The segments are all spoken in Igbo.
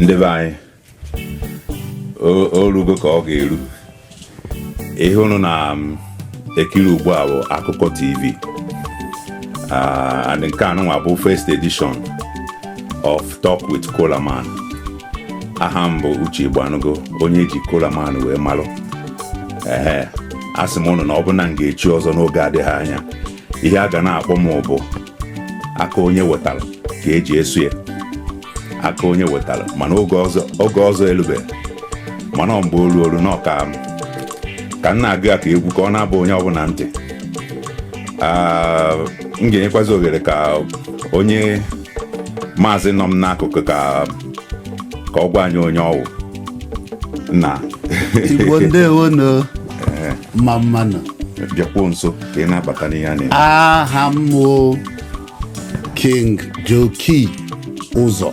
ndị be anyị orugo ka ọ ga-eru ihe unu na-ekiri um, ugbu a bụ akụkọ tv ah, and nke anụnwa bụ first edition of Talk with Kolaman aha m bụ uche Igbanugo onye eji kolaman wee malụ ee asị m ụnụ na ọ bụ na m ga-echi ọzọ n'oge adịghị anya ihe a ga na-akpọ m bụ aka onye wetara ka eji eso ya aka onye wetara mana oge ọzọ elube mana ọ mgbe olu olu n'ọka m ka m na-agụ ya ka egwu ka ọ na-abụ onye ọbụla ntị Ah, m ga-enyekwazi ohere ka onye maazị nọ m n'akụkụ ka ọ gwa anyị onye ọ wụ na igbo ndewonu mma mmanụ bịakwuo nso ka ị na-abata n'ihe a na-eme aha m bụ king joki ụzọ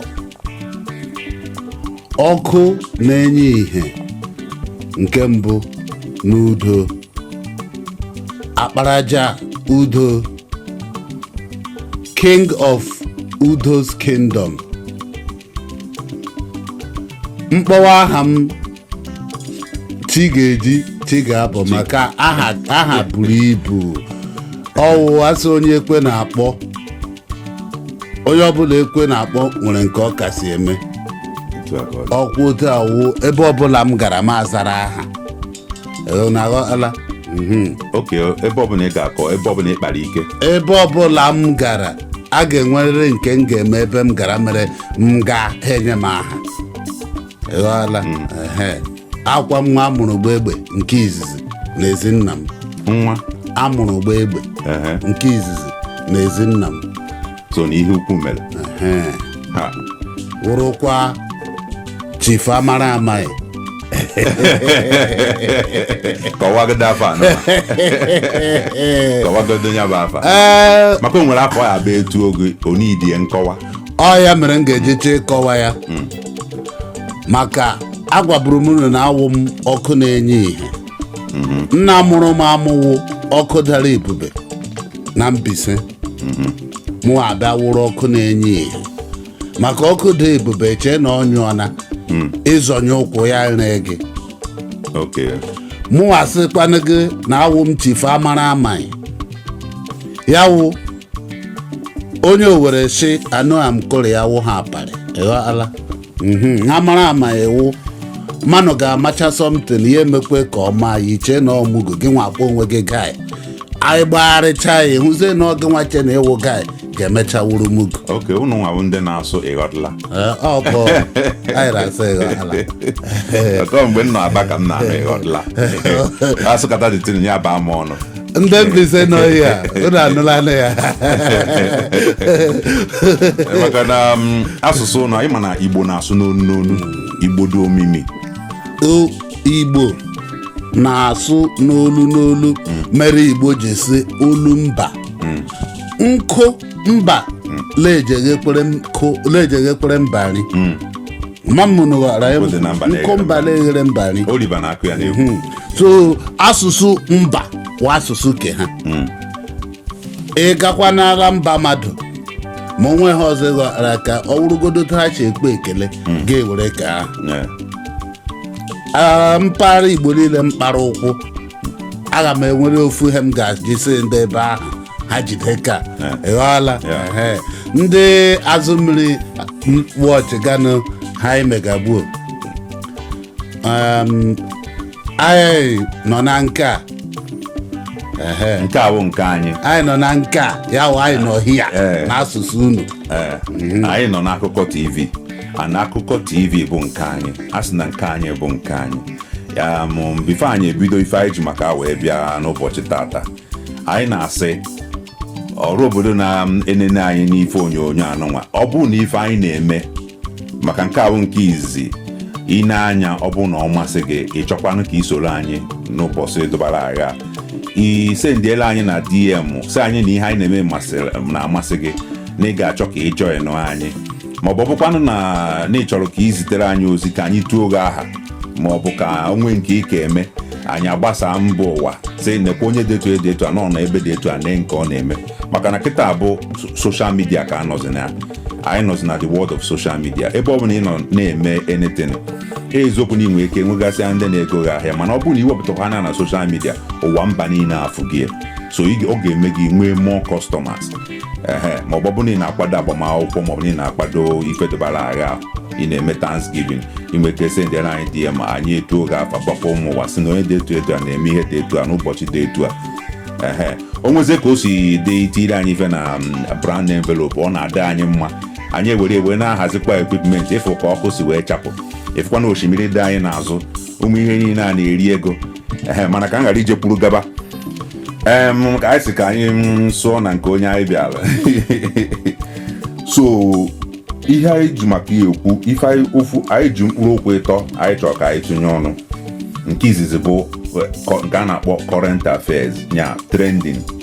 ọkụ na-enye ìhè nke mbụ n'Udo akparaja udo king of udo's kingdom m kpọwa aha m chi ga-eji chi ga-abọ maka aha buru ibu ọ wụ a sị onye ekwe na-akpọ onye ọbụla ekwe na-akpọ nwere nke ọ kasị eme Otu a ka ọ dị. ọkwụ otu a wụ ebe ọbụla m gara m azara aha Ee, unu aghọtala Mhm. oke ebe ọbụla ị ga-akọ ebe ọbụla ị kpara ike ebe ọbụla m gara a ga-enwerịrị nke m ga-eme ebe m gara mere m gaa ha enye m aha ịghọọla Ehe. akwa nwa a mụrụ gbaa egbe nke izizi n'ezi nna m nwa a mụrụ gbaa egbe ehe nke izizi n'ezi nna m so na ihe ukwu mere Ehe. ha wụrụkwa chief amara amaghị kọwagodo afa anọ kọwagodo nya bụ afa ee maka o nwere afa ya bụ etu oge onidie nkọwa ọ ya mere m ga-eji chọọ ịkọwa ya maka agwaburu m unu na awụ m ọkụ na-enye ihe nna mụrụ m amụ wụ ọkụ dara ebube na Mbaise mụ abịa wụrụ ọkụ na-enye ihe maka ọkụ dị ebube chee na ọ nyụọna ị zọnye ụkwụ ya ree gị ok mụ asịkwanụ gị na awụ m chief amara amaghị ya wụ onye owere sị anụ a m kụrụ ya wụ ha aparị ịghọala Mhm, amara amaghị wụ mmanụ ga-amacha somtin ya emekwa ka ọ maa ya iche na ọ mugu gị nwa akpọ onwe gị gai anyị gbagharịcha ya hụzie na ọ gị nwa che na ị wụ gai ga-emecha wụrụ mugu oke unu nwa bụ ndị na-asụ ịghọtala Ee, ọ bụ anyị na-asụ ịghọtala ọtọ mgbe m nọ Aba ka m na-anụ ịghọtala asụkata dị tiri ya baa m ọnụ ndị Mbaise nọ hia unu anụlanụ ya maka na um, asụsụ anyị ma na igbo na-asụ n'olu n'olu igbo dị omimi O- igbo na-asụ n'olu n'olu mere igbo ji sị olu mba nkụ mba la-eji eghekpere mba nri mamụnụ ghara ya Ozi na mba na-eghere nkụ mba na-eghere mba nri Oliver na-akụ ya n'egwu Mhm. so asụsụ mba wụ asụsụ ke ha ị gakwa n'ala mba mmadụ ma onwe ha ọzọ ghara ka ọ wụrụgodo otu ha si ekpe ekele ga-ewere ke ahụ Yeah. Ah, mpaghara igbo niile m kpara ụkwụ aga m enwere ofu ihe m ga-eji sị ndị ebe ahụ ha jide ka Yeah. ịghọọla Yeah. Ehe. ndị Azụmiri wọchị ganụ ha imegagbuo Um, anyị nọ na nke a Ehe. nke a bụ nke anyị anyị nọ na nke a ya wụ anyị nọ hia Eh. n'asụsụ unu Ee, anyị nọ n'akụkọ tv a na akụkọ tv bụ nke anyị a sị na nke anyị bụ nke anyị ya bụ bifo anyị ebido ife anyị ji maka wee bịa n'ụbọchị tata anyị na-asị ọra obodo na-enene anyị n'ife onyonyo anụnwa ọ bụ na ife anyị na-eme maka nke a bụ nke izizi ị na-ene ya ọ bụ na ọ masị gị ị chọkwanụ ka i soro anyị n'ụbọchị dụbara agha i sendiela anyị na DM sị anyị na ihe anyị na-eme masịrị- na-amasị gị na ị ga-achọ ka ị joinụ anyị ma ọ bụ ọ bụkwanụ na na ị chọrọ ka ị zitere anyị ozi ka anyị tuo gị aha ma ọ bụ ka o nwe nke ị ka eme anyị agbasaa mba ụwa sị nekwa onye dị etu dị etu a nọ na ebe dị etu a nee nke ọ na-eme maka na kịta bụ soshal midia ka a nọzi na anyị nọzi na the world of social media ebe ọ bụla ị nọ na-eme anything eziokwu na i nwe ike nwegasịa ndị na-ego gị ahịa mana ọ bụrụ na i wepụtakwa ya na soshal midia ụwa mba niile afụ gị so ọ ga-eme gị nwee more customers ehe ma ọ bụ na ị na-akwado agbamakwụkwọ ma ọ bụ na ị na-akwado ife dịbara agha ahụ ị na-eme thanksgiving i nwe ike sendere anyị DM anyị etuo gị afa gwakwa ụmụ ụwa sị na onye dị etu etu a na-eme ihe dị etu a n'ụbọchị dị etu a ehe o nwezie ka o si dị i tiiri anyị ife na mm, brown envelope ọ na-adị anyị mma anyị ewere wee na-ahazikwa equipment ị fụ ka ọkụ si wee chapụ ị fụkwa na osimiri dị anyị n'azụ ụmụ ihe niile a na-eri ego ehe mana ka m ghara ije kwuru gaba em ka anyị si ka anyị mm, sụọ na nke onye anyị bịara so ihe anyị ji maka ya ekwu ife anyị ofu anyị ji mkpụrụ okwu ịtọ anyị chọrọ ka anyị tụnye ọnụ nke izizi bụ eh, kọ- nke a na-akpọ current affairs ya trending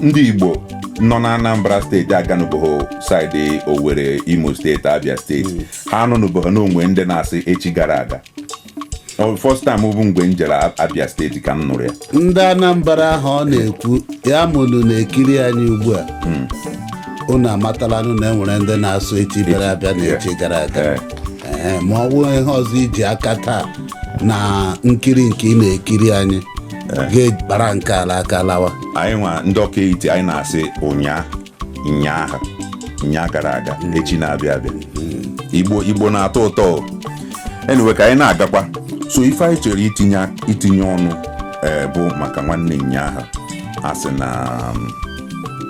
ndị igbo nọ na anambra steeti aganụbụghị side owere imo steeti abia steeti ha anụnụbụghị na o nwe ndị na-asị echi gara aga Ọ first time bụ mgbe m jere A- abia steeti ka m nụrụ ya ndị anambra ahụ ọ na-ekwu ya ma ụnụ na-ekiri anyị ugbu a unu amatalanụ na e nwere ndị na-asụ echi bịara abịa na echi gara aga Eh. Ee, ma ọ bụrụ ihe ọzọ i ji aka taa na nkiri nke ị na-ekiri anyị kpara nke a l'aka lawa anyị nwa ndị ọka etiti anyị na-asị ụnyaa nyaahụ nyaa gara aga echi na-abịa abịa igbo igbo na-atọ ụtọ o. anyway ka anyị na-agakwa so ife anyị chere itinye itinye ọnụ ee bụ maka nwanne nyaahụ a sị na um,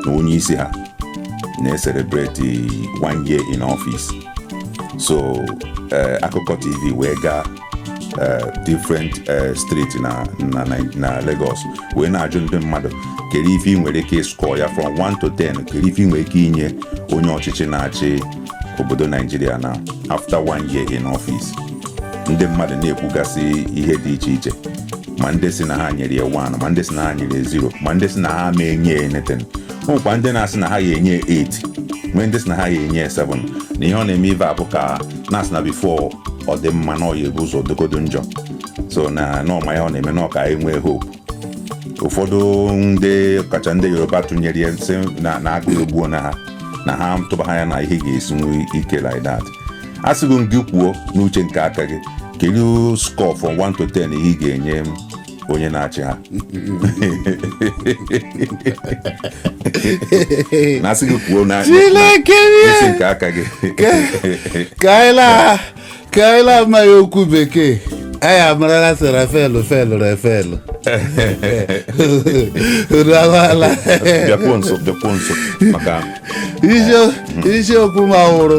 na onye isi ha na-ecelebrate one year in office so ee, akụkọ tv wee gaa eh, different eh, street na na Nai- na Lagos wee na-ajụ ndị mmadụ kedu ife ị nwere ike ịscore ya from 1 to 10 kedu ife ị nwere ike inye onye ọchịchị na-achị obodo Naijiria na after one year in office ndị mmadụ na-ekwugasị ihe dị iche iche ma ndị sị na ha nyere ya 1 ma ndị sị na ha nyere ya 0 ma ndị sị na ha ma enye ya anything o nwekwa ndị na-asị na ha ya enye ya 8 nwee ndị sị na ha ya enye ya 7 na ihe ọ na-eme ive abụ ka na-asị na before ọ dị mma na ọ ya-ebu ụzọ dịgodu njọ so na n'ọma ya ọ na-eme na ọ ka enwe hope ụfọdụ ndị kacha ndị yoruba tụnyere ya na-asị na na agụụ egbuona ha na ha atụbaha anya na ihe ga-esiwe ike like that a sịgo m gị kwuo n'uche nke aka gị kedu score from 1 to 10 ihe ị ga-enye m onye na-achị ha na asị gị kwuo na Chineke na- isi nke aka gị ka anyị laa ka anyị laa amaghị okwu bekee anyị amarala sị rafelụ felụ rafelụ unu amaala bịakwuo nso bịakwuo nso maka isiokwu ma wụrụ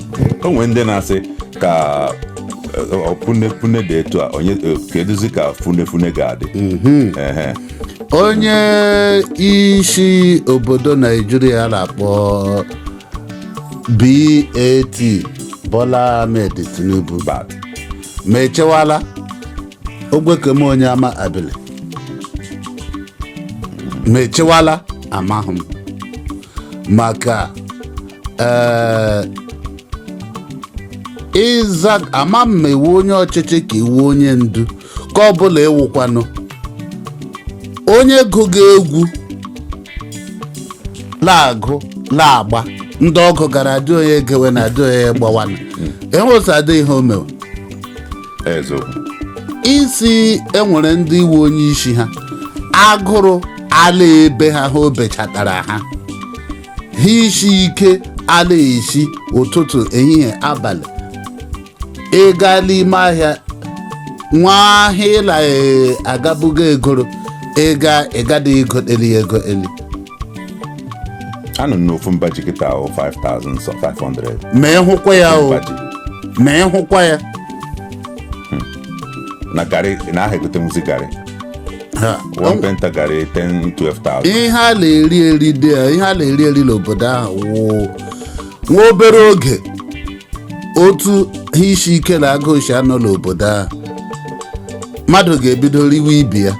o nwere ndị na-asị ka funefune dị etu a onye keduzi ka funefune ga-adị Ehe. onye isi obodo naijiria na-akpọ bat bola ahmed tinubu Bat. ma echewala ogwekeme onye ama abili ma echewala amahụ m maka ee ịza ama m ma ị wụ onye ọchịchị ka ị wụ onye ndu ka ọ bụla ị wụkwanụ onye gụga egwu na-agụ na-agba ndị ọ gụgara adị onye gewe na adị onye gbawana enwesa adị ihe o mewe eziokwu ị sị e nwere ndị ị wụ onye isi ha agụrụ ala ebe ha ha obechatara ha ihe isi ike a na-esi ụtụtụ ehihie abalị ị gaa n'ime ahịa nwa ahịa ịla ee, agabugo egoro ịga ịgada egoli egoli anụ n'ofu mba ji kịta ahụ 5000 so 500 ma ị hụkwa ya o mba ji ma ị hụkwa ya na garị na aha egotenwuzi garị Ha, one painter garị 10 12000 ihe a na-eri eri dị ya ihe a na-eri eri n'obodo ahụ wụ nwa obere oge otu ihe isi ike na agụụ si anọ n'obodo ahụ mmadụ ga-ebido riwe ibe ya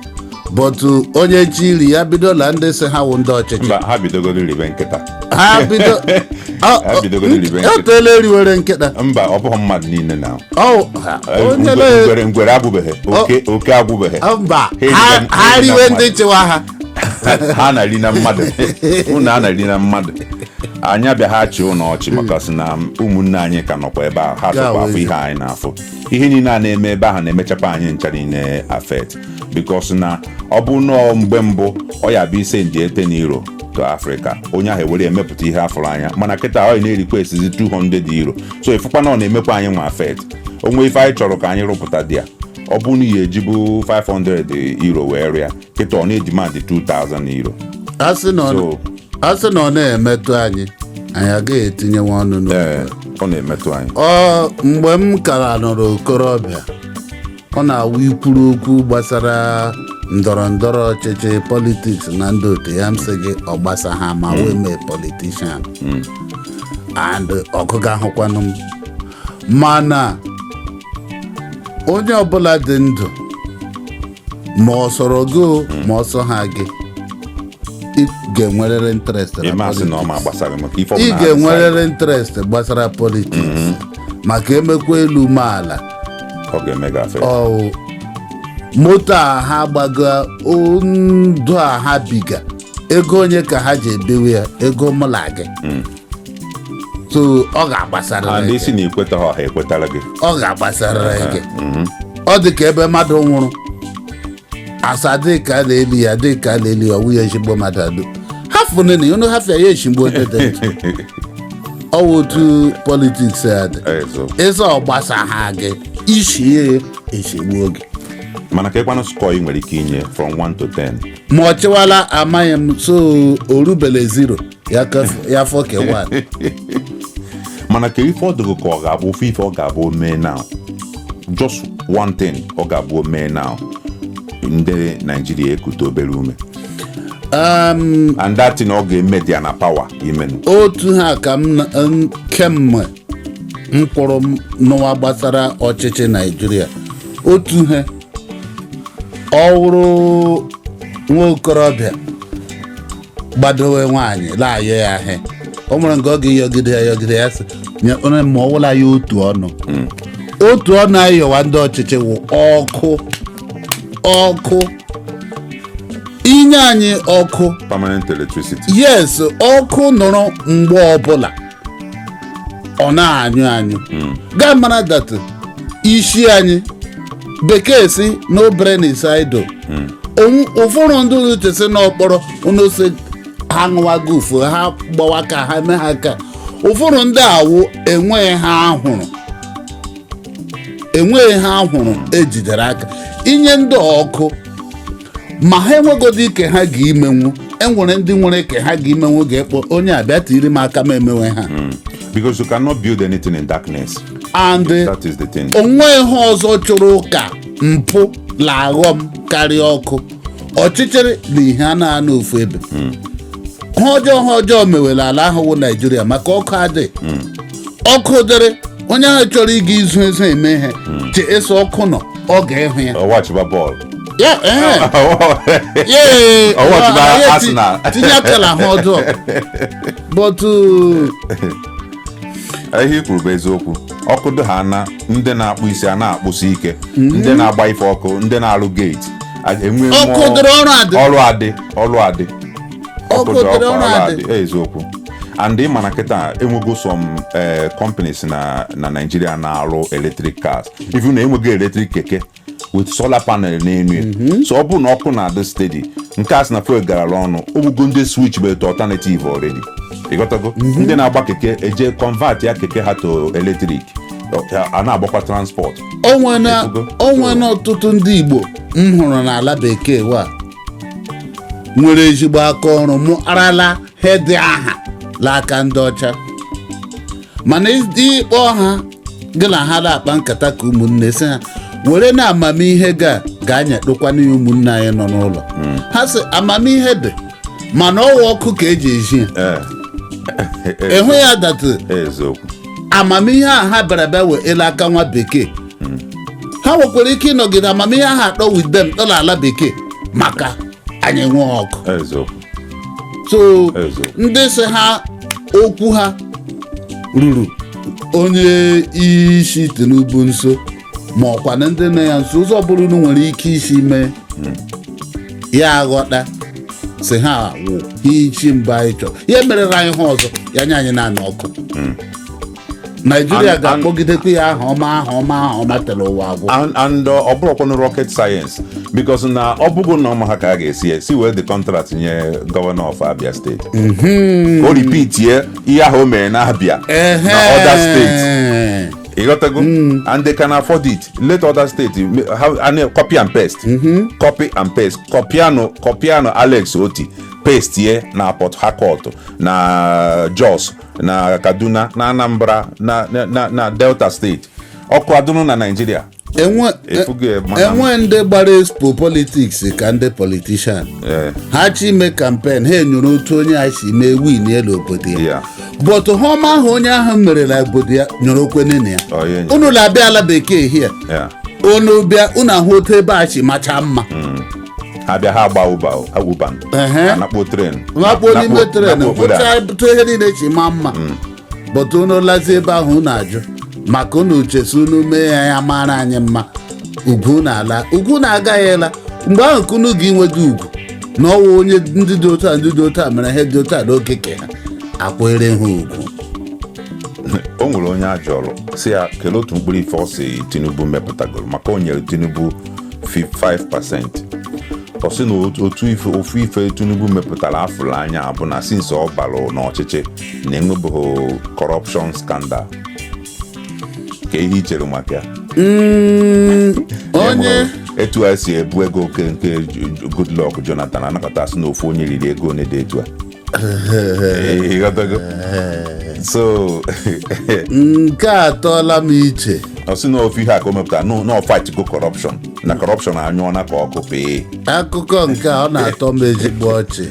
but onye chọ iri ya bido na ndị sị ha wụ ndị ọchịchị mba ha bidogoro ribe nkịta ha bido ọ- Ha bidogo n'iribe nkịta. o teela eriwere nkịta mba ọ bụghị mmadụ niile na Ọ- ha- onye na- ngwere ngwere agwụbeghị oke oke agwụbeghị ọ, mba Ha eriwe- ha ha ha eriwe eriwe na ndị mmadụ. chịwa ha ha na-eri na mmadụ unu a na-eri na mmadụ anyị abịaha achị unu ọchị maka sị na ụmụnne anyị ka nọkwa ebe ahụ ha sokwa afụ ihe anyị na-afụ ihe niile a na-eme ebe ahụ na-emechakwa anyị ncha niile affect because na ọ bụ nọọ mgbe mbụ ọ ya bụ ị sendie 10 euro to Africa onye ahụ ewere emepụta ihe a fụrụ anya mana kịta ọ na-arequestizi 200 euro so ị fụkwa na ọ na-emekwa anyị nwa affect o nwee ife anyị chọrọ ka anyị rụpụta there ọ bụ na ihe e jibu 500 euro wee rụa kịta ọ na-ademandị 2000 euro a sị na ọ- So- a sị na ọ na-emetụ anyị anyị agaghị etinyewa ọnụ n'okwu ee ọ na-emetụ anyị ọ mgbe m kara nọrọ okorobịa ọ na-awụ i kwuru okwu gbasara ndọrọ ndọrọ ọchịchị politics na ndị otu ya m sị gị ọ gbasaha m awụ m politician and ọ gụgahụkwanụ m mana onye ọbụla dị ndụ ma ọ sọrọ gị o, ma ọ sọha gị ị ga-enwerịrị interest ị ga-enwerịrị interest gbasara politics maka emekwa elu mee ala ọ ga-eme gị affect. ọ moto a ha gbaga, ndụ a ha biga ego onye ka ha ji ebiwe ya ego mụ na gị so ọ ga-agbasara and gị sị na i kwetaha ọha ekwetara gị ọ ga-agbasarịrị gị ọ dị ka ebe mmadụ nwụrụ asa dịka a na-eli ya dịka a na-eli ya ọwụ ya ezigbo mmadụ adụ hafụ nene unu hafịa ya ezigbo dede ọwụ otu politiks a dị Ezo. ịza ọgbasa ha gị isi ya echigbuo gị mana ka ịkwanụ score ị nwere ike inye from 1 to 10 ma ọ chịwala amaghị m so o rubele zero ya kef- ya fọ ke one mana ka ife ọ dịghị ka ọ ga-abụ ofe ife ọ ga-abụ o mee now just one thing ọ ga-abụ o mee now ndị naijiria ekute obere ume Um, and that thing ọ ga-eme dị ya na power imenwu otu ha ka m na- m- kemgbe m pụrụ n'ụwa gbasara ọchịchị naijiria otu ihe ọ wụrụ nwa okorobịa gbadowe nwaanyị la-ayọ ya ahịa o nwere nke ọ ga-eyọgide ya yọgide ya sị nye onye ma ọ wụla ya otu ọnụ otu ọnụ anyị yọwa ndị ọchịchị wụ ọkụ ọkụ inye anyị ọkụ permanent electricity yes ọkụ nọrọ mgbe ọbụla ọ na-anyụ anyụ ga-amara that isi anyị bekee sị no brain is idle Onwu- ụfọdụ ndị nọchesi n'okporo n'ose ha ṅụwa gufu ha gbawa ka ha mee ha ka ụfọdụ ndị awụ enweghị ha ahụrụ enweghị ha ahụrụ ejidere aka inye ndị ọkụ ma ha enwegodị ike ha ga imenwu enwere ndị nwere ike ha ga imenwu ga-ekpọ onye a bịa tiri m aka m emewe ha because you cannot build anything in darkness and eh, that is the thing o nwe ihe ọzọ chụrụ ụka mpụ la aghọm karịa ọkụ ọchịchịrị na ihe anaa anọ ofu ebe ha ọjọọ ha ọjọọ mewe l'ala ahụ wụ naijiria maka ọkụ adịghị ọkụ dịrị onye ahụ chọrọ ịga izu ezu eme ihe che eso ọkụ nọ ọ ga-ehụ ya ọ watchịba bọọlụ ya ee ya ee Ọ watch na anyị eti- Arsenal. tinye aka la ha ọjọọ but uh, ihe i kwuru bụ eziokwu ọkụ dị ha na ndị na-akpụ isi a na-akpụsi ike ndị na-agba ife ọkụ ndị na-arụ gate a- enwe ọkụ mmụọ- dịrị ọrụ adị ọrụ adị ọrụ adị ọkụ dị ọkụ ala dị eziokwu and ị ma na kịta enwego some eh, companies na na Nigeria na-arụ electric cars even na enwego electric keke with solar panel n'elu ya mhm. so ọ bụrụ na ọkụ na-adị steady nke a sị na fuel garala ọnụ o nwego ndị switchibe to alternative already ịghọtago mhm. ndị na-agba keke eje convertịa keke ha to electric a na-agbakwa transport o nwere ọtụtụ ndị Igbo m hụrụ n'ala bekee wa nwere ezigbo aka ọrụ mụarala he dị aha n'aka ndị ọcha mana ịkpọ ha gị na ha na-akpa nkata ka ụmụnne si ha werenụ amamihe ga gaa nyetụkwanụ ya ụmụnne anyị nọ n'ụlọ ha sị amamihe dị mana ọ wụ ọkụ ka e ji ezi ya ị hụ ya that amamihe a ha bịara bịa wee n'aka nwa bekee ha nwekwara ike ịnọgide amamihe ahụ atọ with them tọ n'ala bekee maka anyị nwee ọkụ so ndị sị ha okwu ha ruru onye isi tinubu nso ma ọ kwanụ ndị nọ ya nso ụzọ ọbụla unu nwere ike isi mee ya aghọta si he wụ ihe isi mbụ anyị chọrọ ya merere anyị ha ọzọ ya nye anyị naanị ọkụ naijiria ga-akpọgidekwa ya aha ọma aha ọma aha ọma tere ụwa agwụ and ọ bụrọkwanụ rocket science because na ọ bụgo na ọ maha ka a ga-esi esi wee the contract nye governor of abia state ka o repeat ye ihe ahụ o mere na abia na other states ị ghọtago and they can afford it let other states copy and paste copy and paste kọpianụ alex otti paste ye na port harcourt na jos na kaduna na anambra na delta state ọkụ adụnụ na naijiria e nwe ndị gbara expo politics ka ndị politician ha chọ ime campaign ha enyoro otu onye a si mee winie n'obodo ya but he ọma ahụ onye ahụ mere na obodo ya nyoro o kwenị ya unu na-abịa ala bekee hie unu bịa unu ahụ otu ebe a si macha mma ha bịa ha agba uber anakpo tren nwakpo n'ime tren hụcha otu ihe niile shi maa mma but unu lazi ebe ahụ unu ajụ maka unu che si unu mee ya ya mara anyị mma ugwu unu ala ugwu unu agaghị ala mgbe ahụ ka unu ga-enweta ugwu na ọ wụ onye ndị dị otu a ndị dị otu a mere ihe dị otu a n'oge ke ha akwere ha ugwu o nwere onye a jụrụ si ya kelee otu mkpụrụ ife ọ si tinubu mepụtagoro maka o nyere tinubu 5% ọ sị na ofu ife tinubu mepụtara afụrụ anya bụ na since ọ balụ n'ọchịchị na enwebeghị corruption scandal kee ihe i chere maka ya onye etu a si ebu ego oge nke goodluck jonathan a na-akọta sị na ofu onye riri ego one dị etu a ịghọtago so nke a atọọla m iche ọ sị na ofu ihe a ka o mepụtara no na ọ fightgo corruption na corruption anyụọna ka ọkụ pee akụkọ nke a ọ na-atọ m ezigbo ọchị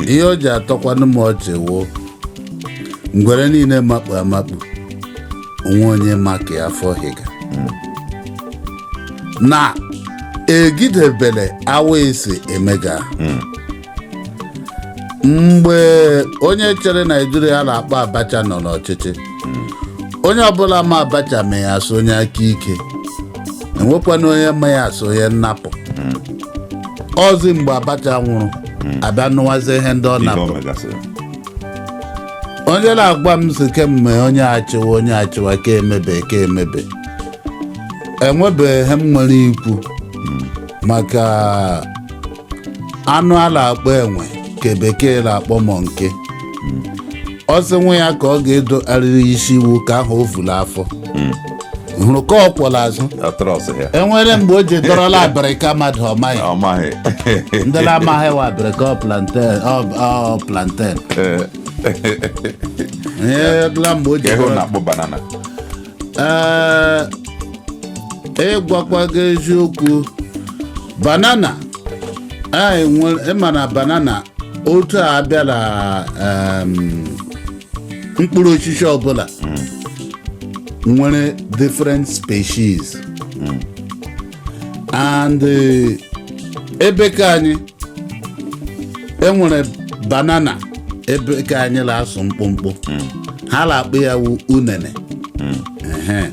ihe o ji atọkwanụ m ọchị wụ ngwere niile makpu amakpu o nwe onye ma ka ya afọ hịga na egidebele awa esi emega mgbe onye chịrị naijiria a na-akpọ abacha nọ n'ọchịchị onye ọbụla ma abacha ma ya so onye aka ike enwekwanụ onye ma ya so onye nnapụ ozi mgbe abacha nwụrụ a bịa nụwazi ihe ndị ọ ihe napụ o megasịrị onye na-agwa m sị kemgbe onye achịwa onye achịwa ka emebe ka emebe enwebeghị ihe m nwere ikwu maka anụ a na-akpọ enwe ka bekee na-akpọ monkey ọ sị nwa ya ka ọ ga-edo arịrị isi wụ ka ahụ o vu la afọ hụrụ ka ọ kwọ la azụ atrust ya enwere mgbe o ji dọrọla abịrịka mmadụ ọ maghị ọ maghị ndị na-amaghị wa abịrịka ọ plantain ọ- ọ plantain Ee, ihe ọbụla mgbe o ji ka ego dọrọ na-akpọ banana ee ịgwakwa gị eziokwu banana anyị nwere ị ma na banana otu a bịara em, mkpụrụ osisi ọbụla nwere different species and eh, ebe ka anyị enwere banana ebe ka anyị na-asụ mkpụmkpụ ha na-akpọ ya wu unene Ehe.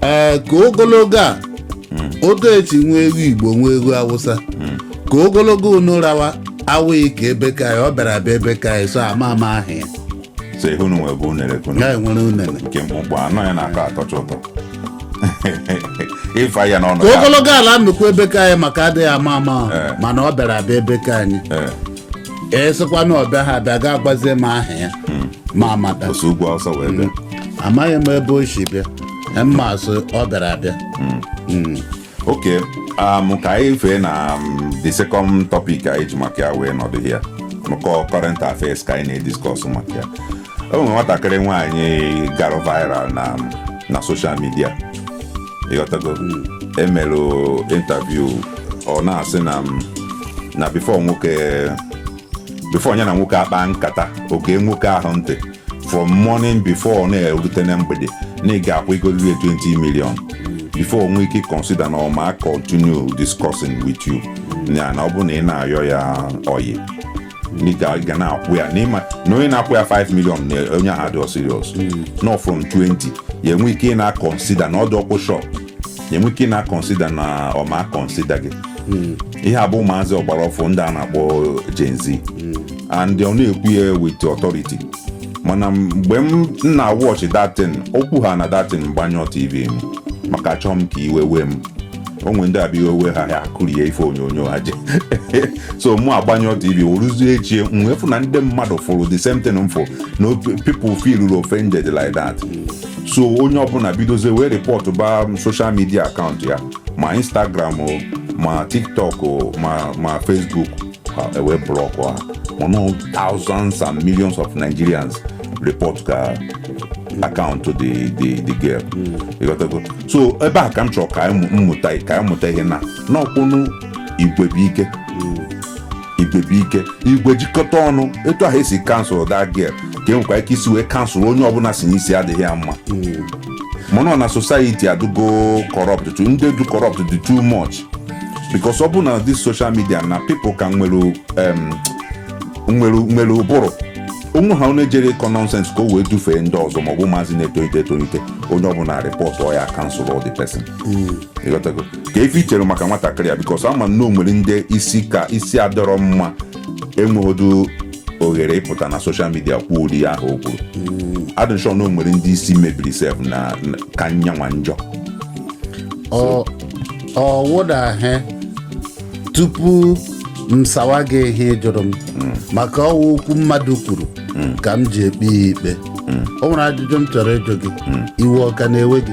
ee ka ogologo a otu esi nwa egwu igbo nwa egwu awụsa ka ogologo unu rawa awụghị ka ebe ka anyị ọ bịara abịa ebe ka anyị so ama ama ahụ ya so ihe unu nwe bụ unere kunu ya enwere unene nke mkpụmkpụ anọ ya na-atọ atọcha ụtọ ịfa ya n'ọnụ ka ya. ogologo ala nnukwu ebe ka anyị maka adịghị ama ama ahụ, Eh. mana ọ bịara abịa ebe ka anyị Eh, esịkwa na ọ bịara abịa ga-agwazi m aha ya ma a mata o si ugwu awụsa wee bịa amaghị m ebe o si bịa m ma sọ ọ bịara abịa Mm. okay um, ka anyị fee na um, the second topic anyị ji maka ya wee nọdụ here maka current affairs ka anyị na-ediscuss maka ya o nwere nwatakịrị nwaanyị gara viral na um, na social media ịghọtago e melụ interview ọ na-asị na um, na before nwoke before ya na nwoke akpaa nkata ọ gee nwoke ahụ ntị from morning before ọ na-erute na mgbede na ị ga-akwụ ego ruru 20 million before o nwee ike consider na ọ ma continue discussing with you ya na ọ bụrụ na ị na-ayọ ya oyi ị ga na-akwụ ya na ị ma na onye na-akwụ ya 5 million na onye ahụ adịọ serious no from 20 ya enwe ike ị na-consider na ọ dị ọkpụ shop ya enwe ike ị na-consider na ọ ma consider gị ihe a bụ ụmụazị ọgbara ọfụụ ndị a na-akpọ Gen Z and ọ na-ekwu ya with authority mana mgbe m na-watch that thing okwu ha na that thing m gbanyụ tv m maka achọghị m ka iwe wee m o nwe ndị ọ bụ iwe wee ha ha akụrie ife onyonyo ha je so mụ agbanyụ tv o ruzie echi m wee fụ na ndị mmadụ fụrụ the same thing m fụ na people feel offended like that so onye ọbụla bidozie wee report ba social media account ya ma instagram o ma tiktok o ma ma facebook ha ewee block ha mana thousands and millions of nigerians report ka account the the the girl ịghọtago so ebe a ka m chọrọ ka anyị mụ- mmụta ka anyị mụta ihe na n'ọkwụnụ igwe bụ ike igwe bụ ike igwe jikọta ọnụ etu ahụ e si cancel that girl ka e nwekwa ike isi wee cancel onye ọbụla sị n'isi adịghị ya mma mana na society adụgo corrupt to ndị dụ corrupt dị too much because ọ bụ na this social media na people ka nwere um, nwere nwere ụbụrụ onwe ha onye jere ịkọ nonsense ka o wee dufee ndị ọzọ maọbụ ụmụazị na-etolite etolite onye ọbụla report ya cancel the person ịghọtago ka ife i chere maka nwatakịrị a because ama m na o nwere ndị isi ka isi adụrọ mma enweghịdụ oghere ịpụta na social media kwuo ụdị ihe ahụ o kwuru adị m sure na o nwere ndị isi mebiri sef na na- ka nyanwa njọ ọ ọ wụdahe tupu m sawa gị ihe ị jụrụ m maka ọ wụ okwu mmadụ kwuru ka m ji ekpe ya ikpe o nwere ajụjụ m chọrọ ịjụ gị iwe ọ ka na-ewe gị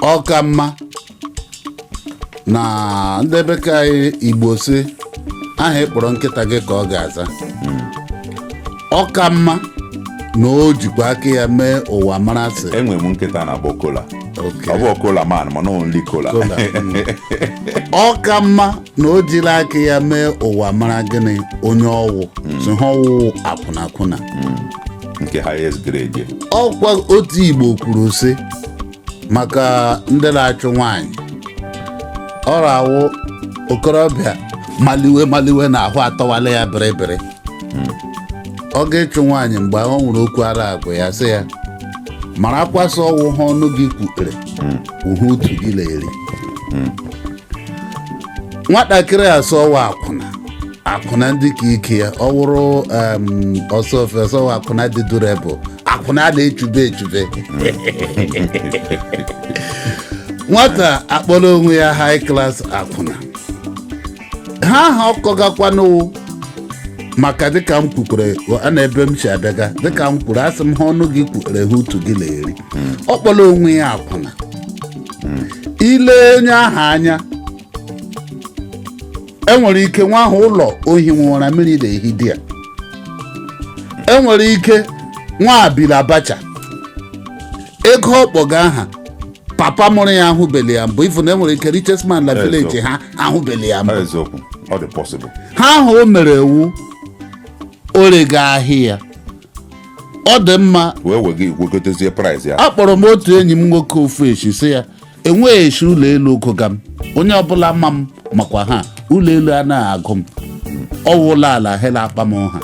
ọ ka mma na ndị be ka anyị igbo sị aha ị kpọrọ nkịta gị ka ọ ga-aza ọ ka mma na o jikwa aka ya mee ụwa mara sị enwere m nkịta na-akpọ kola Oke. ọ bụ kola man mana only kola Kola, mm. ọ ka mma na o jiri aka ya mee ụwa mara gịnị onye ọ wụ sị ha ọ wụ akwụnakwụna nke highest grade ya. ọkwa otu igbo kwuru sị maka ndị na-achụ nwanyị ọ na-awụ okorobịa maliwe maliwe na ahụ atọwala ya bịrịbịrị ọ ga-ịchụ nwaanyị mgbe ahụ o nwere okwu a na-agwa ya sị ya marakwa sị ọ wụ ihe ọnụ gị kwutere wụ ihe utu gị na-eri nwatakịrị a sị ọ wụ akwụna akwụna ndị ka ike ya ọ wụrụ em, ọsọ ofe ọsọ wụ akwụna dị durable akwụna a na-echube echube nwata akpọrọ onwe ya high class akwụna ha aha ọkọgakwanụ maka dịka m kwukwere a na ebe m si abịaga dịka m kwuru asị m ha ọnụ gị kwukwere ha utu gị na-eri ọ kpọrọ onwe ya akwụna ile onye ahụ anya enwere ike nwa ahụ ụlọ o hi ụra mmiri na-ehi di ya enwere ike nwa a bi la bacha ego ọ kpọga aha papa mụrụ ya ahụbeli ya mbụ even enwere ike richest man na Yes, village sir. ha ahụbeli ya mbụ eziokwu ọ dị possible ha ahụ o mere ewu o rega ahịa ya ọ dị mma wee wega iwegotezie price ya akpọrọ m otu enyi m nwoke ofu echi sị ya enweghị esi ụlọ elu ụgụga m onye ọbụla ma m makwa ha ụlọ elu anaghị agụ m ọwụ ụlọ ala hela akpa m ha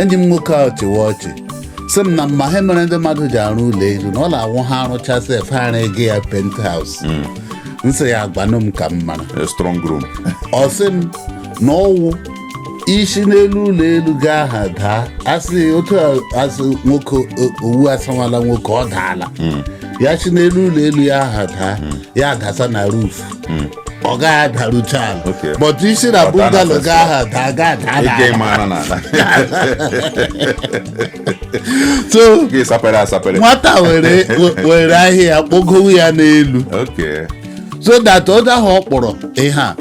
enyi m nwoke ahụ chịwa ọchị sị m na m ma ha mere ndị mmadụ ji arụ ụlọ elu na ọ na-awụ ha arụchasị efe ha ego ya penthouse m sị ya gwanụ m ka m mara A strong room. ọ sị m na ọwụ i si n'elu ụlọ elu gaa ha daa asị otu asị nwoke owu asawala nwoke ọ daala hmm. ya si n'elu ụlọ elu ya ha daa hmm. ya adasa na roof hmm. ọ gaghị adarucha ala but i si na bungalow gaa ha daa gaa daa so nwata were ahịa kpogowu ya n'elu so that onye ahụ ọ kpọrọ ihe a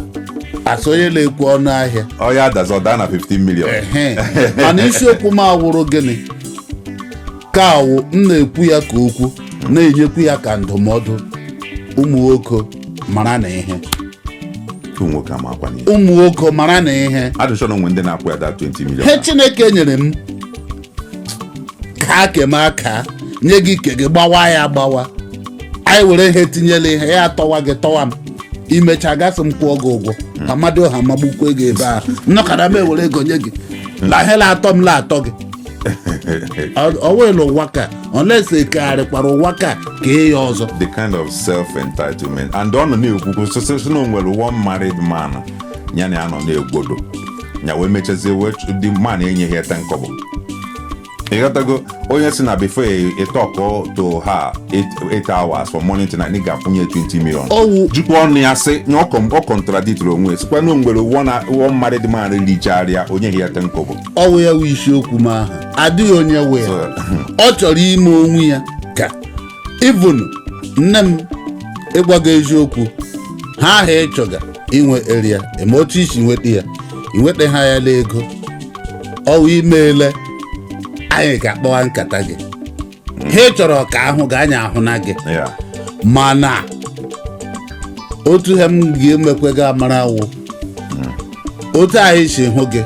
asị onye na-ekwu ọnụ ahịa ọ ya-adazi ọ daa na 15 million Ehe. mana isiokwu m awụrụ gịnị ka awụ m na-ekwu ya ka okwu na-enyekwu ya ka ndụmọdụ ụmụ nwoke mara na ihe ụmụ nwoke amakwa n'ihe ụmụ nwoke mara na ihe adịchọ na o nwe ndị na-akwụ ya that 20 million he Chineke nyere m ka aka eme aka nye gị ike gị gbawa ya agbawa anyị were ihe tinye la ihe ya atọwa gị tọwa m imecha gasị m kwụọ gị ụgwọ ka Amadịọha magbukwe gị ebe ahụ nnọkara m ewere ego nye gị la ihe la-atọ m la-atọ gị ọwụla ụwa ka unless ekegharịkwara ụwa ka kee ya ọzọ the kind of self-entitlement and ọ nọ na-ekwukwu sịsịsị na o nwere one married man ya na ya nọ na-egbodo ya wee mechazie wee chụ- the man enyeghị ya ten kobo ịghọtago onye si na before ị talk to her 8 hours from morning to night ị ga-akwụnye 20 million Ọwụ. jikwa ọnụ ya sị na ọ kọm- ọ contradictiri onwe ya sịkwa na o nwere one married man richara ya o nyeghị ya ten kobo ọwụ ya wụ isiokwu m ahụ adịghị onye wee So- ọ chọrọ ime onwe ya ka even nne m ịgwa gị eziokwu he ahụ ị chọga inwe eria eme otu i si nweta ya inweta ha ya la ego ọ wụ i meele anyị ga-akpawa nkata gị ha ị chọrọ ka a hụ gị anyị ahụna gị ya mana otu he m ga-emekwe gị amara wụ otu anyị si hụ gị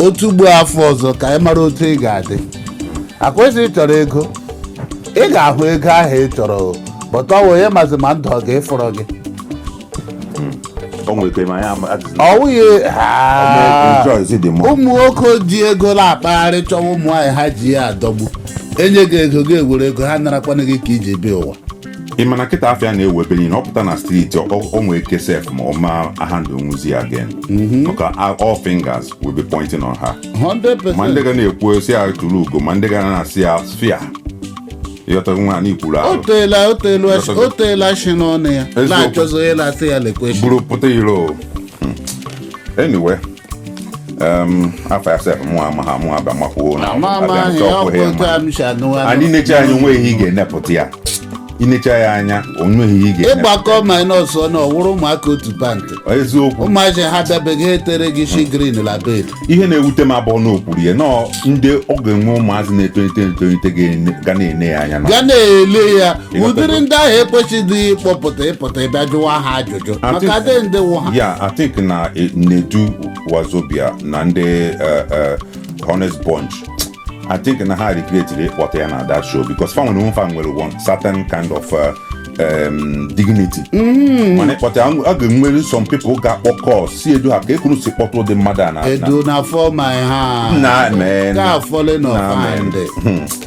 otu ugbua afọ ọzọ ka anyị mara otu ị ga-adị ọ kwa ị sị ị chọrọ ego ị ga-ahụ ego ahụ ị chọrọ o. but ọ wụ onye mazi ma ndụ ọ ga-efọrọ gị o nwere ike ma anyị ama ajụjụ ọ wụghị Haa. Rejoice dị mma. ụmụ nwoke ji ego na-akpagharị chọwa ụmụ nwaanyị ha ji ya adọgbu enye gị ego gị ewere ego ha narakwana gị aka i ji bịa ụwa ị ma na kịta afa ya na-ewu ebe niile ọ pụta na street o nwee ike sef ma ọ ma handle nwuzi ya again maka a- all fingers will be pointing on her ma ndị 100% ga na-ekwu sị ya tụrụ ugo ma ndị ga na-asị ya fia ịghọta nwa anyị kwuru o ahụ teela o teelu Yes, o teela shi n'ọnụ ya Eziokwu. na-achọzi onye na-asị ya lekwe shi buru pụta iro anyway afọ ya sef mụ ama ha mụ aba makwuo na ama ama abịa ahụ ya chọkwuo ọkụ ha otu ma. a m si anụ anụ. anyị necha anya o nweghị ihe ị ga-enepụta ya i nechaa ya anya o nweghị ihe ị ga-enepụta ịgbakọ minus ọnụ ọ wụrụ ụmụaka otu pant eziokwu ụmụazị ha dabeghị etere gị shi green la bed ihe na-ewute m abụghị na o kwuru ya noo ndị ọ ga-enwe ụmụazị na-etolite etolite ga-ene- ga na-ene ya anya na ga na-ele ya Ịghọtago. ụdịrị ndị ahụ ekwesịghị ịkpọpụta ịpụta ịbịa jụwa ha ajụjụ I maka think- adị ndị wụ ha ya I think na eh, Nedu Wazobia na ndị eh, eh, Honest Bunch I think na ha regretiri ịkpọta ya na that show because fa nwere fa nwere one certain kind of eh, em, dignity mana ịkpọta a ga-enwere some people ga-akpọ call sị Nedu ha ka ekwuru si kpọta ụdị mmadụ a na- na Nedu na-afall my hand men ka falling Na of hand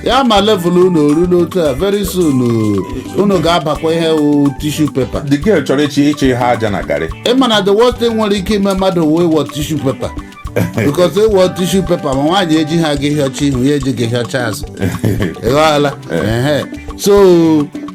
ya ma level unu oru n'otu a very soon uh, unu ga-abakwa ihe wụ tissue paper the girl chọrọ ịchị ịchị ha aja na garị ị ma na the worst thing nwere ike ime mmadụ wụ ịwọ tissue paper because ịwọ tissue paper ma nwaanyị eji ha gị hịọcha ihu ya eji gị hịọcha azụ ịghọọla ehe so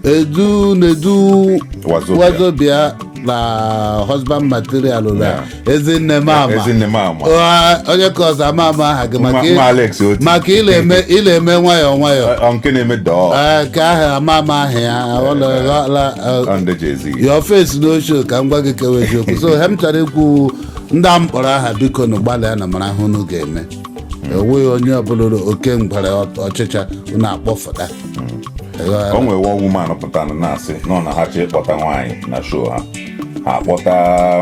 Nedu Nedu Wazobia. Wazobia na husband material na Yeah. ezinne m ama Ezinne m ama. Ụgha, onye ka ọzọ ama ama aha gị maka Nwa- ị- nwa Alex Oti. maka ị la-eme ị la-eme nwayọọ nwayọọ Ọ nke na-eme dọọ Ee, ka aha ama ama aha ya ọla ọla ọ ndị Jay-Z. your face no show ka m gwa gị kewe eziokwu so he m chọrọ ikwu ndị a m kpọrọ aha bikonu gbalịanụ mara ihe unu ga-eme ọ wụghị onye ọbụla ụlọ oke ngwere ọ- ọchịcha unu akpọfụta Ịghọtara? o nwere one woman pụtara na na-asị nọ na ha chọọ ịkpọta nwaanyị na show ha ha akpọta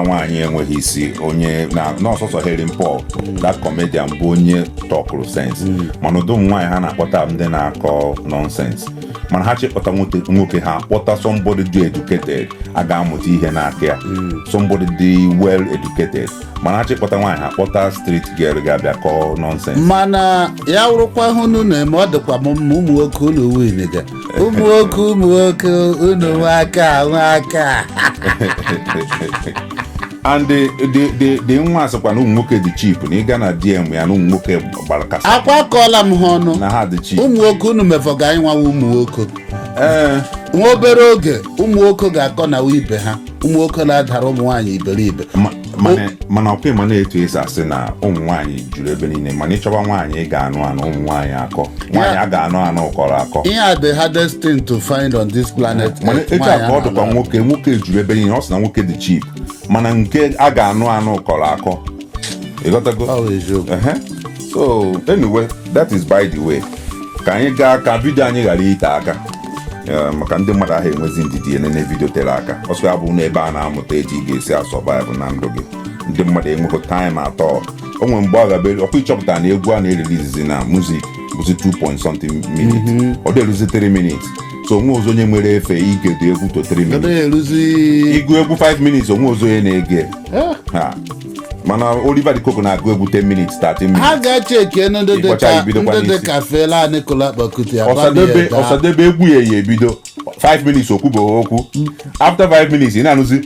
nwaanyị enweghị isi onye na ọ sọsọ Helen Paul that comedian bụ onye tọkụrụ sense mana ụdị ụmụ nwaanyị ha na-akpọta bụ ndị na-akọ nonsense mana ha chọọ ịkpọta nwoke nwoke ha akpọta somebody dị educated a ga-amụta ihe n'aka ya somebody dị well educated mana ha chọọ ịkpọta nwaanyị ha akpọta street girl ga-abịa kọọ nonsense mana ya wụrụkwa ihe unu na-eme ọ dịkwa m mma ụmụ nwoke unu winiga ụmụ nwoke ụmụ nwoke unu nwe aka nwe aka and the the the the nwa asịkwa na ụmụ nwoke dị cheap na ị gaa na DM ya na ụmụ nwoke gbara kasa akwa akọọla m ha ọnụ na ha dị cheap ụmụ nwoke unu mefọga anyị nwawa ụmụ nwoke ee nwa obere oge ụmụ nwoke ga-akọ na ibe ha ụmụ nwoke na-adara ụmụ nwaanyị iberibe ma- mana mana ọkwa ị ma na etu e si asị na ụmụ nwaanyị juru ebe niile mana ị chọba nwaanyị ị ga-anụ anụ ụmụ nwaanyị akọ nwaanyị a ga-anụ anụ kọrọ akọ ihe a the hardest thing to find on this planet mana Earth, etu a nwaanyị ka ọ anọ dịkwa na- nwoke nwoke juru ebe niile ọ sị na nwoke dị cheap mana nke a ga-anụ anụ kọrọ akọ ịghọtago Ọ bụ eziokwu. Ehe. so anyway that is by the way ka anyị gaa ka vidio anyị ghara ite aka Eh, maka ndị mmadụ anaghị enwezi ndidi enene vidio tere aka ọ sọ ya bụ n'ebe a na-amụta etu ị ga-esi asurvive na ndụ gị ndị mmadụ enweghị time at all o nwere mgbe ọ gabere ọkwa ị chọpụta na egwu a na-erelizizi na music bụzi 2 point something minutes ọ dị eruzi 3 minutes so o nwerozi onye nwere efe igedo egwu to 3 minutes Ebe eruzi ịgụ egwu 5 minutes o nwerozi onye na-ege Eh, ha mana Oliver De Coque na-agụ egwu 10 minutes 13 minutes ha ga-eche eke ndị dị Ịkpọcha ka ibidokwa ndị dị n'isi. ka Fela Anikulapo Kuti Osadebe Osadebe egwu ya ya ebido 5 minutes o kwubeghị okwu after 5 minutes ị na-anụzi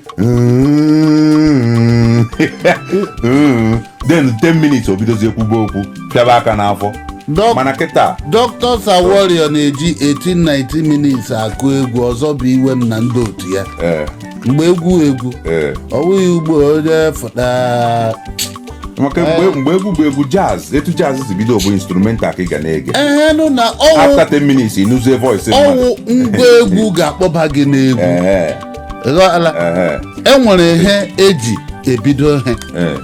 then 10 minutes o bidozie kwube okwu pịaba aka n'afọ Dọk- mana kịta Dr. Sir Warrior na-eji 18-19 minutes akụ egwu ọzọ bụ iwe m na ndị otu ya eh, mgbe egwu egwu eh, ọ bụghị ugbu a onye fụta maka mgbe mgbe egwu bụ egwu jazz etu jazz si bido bụ instrumental ka ị ga na-ege ehe nụ na ọ wụ after 10 minutes ị nụzie voice mmadụ ọ wụ ngwa egwu ga-akpọba gị n'egwu Ehe, ghọọla ehe, e nwere ihe e ji ebido ihe ehe.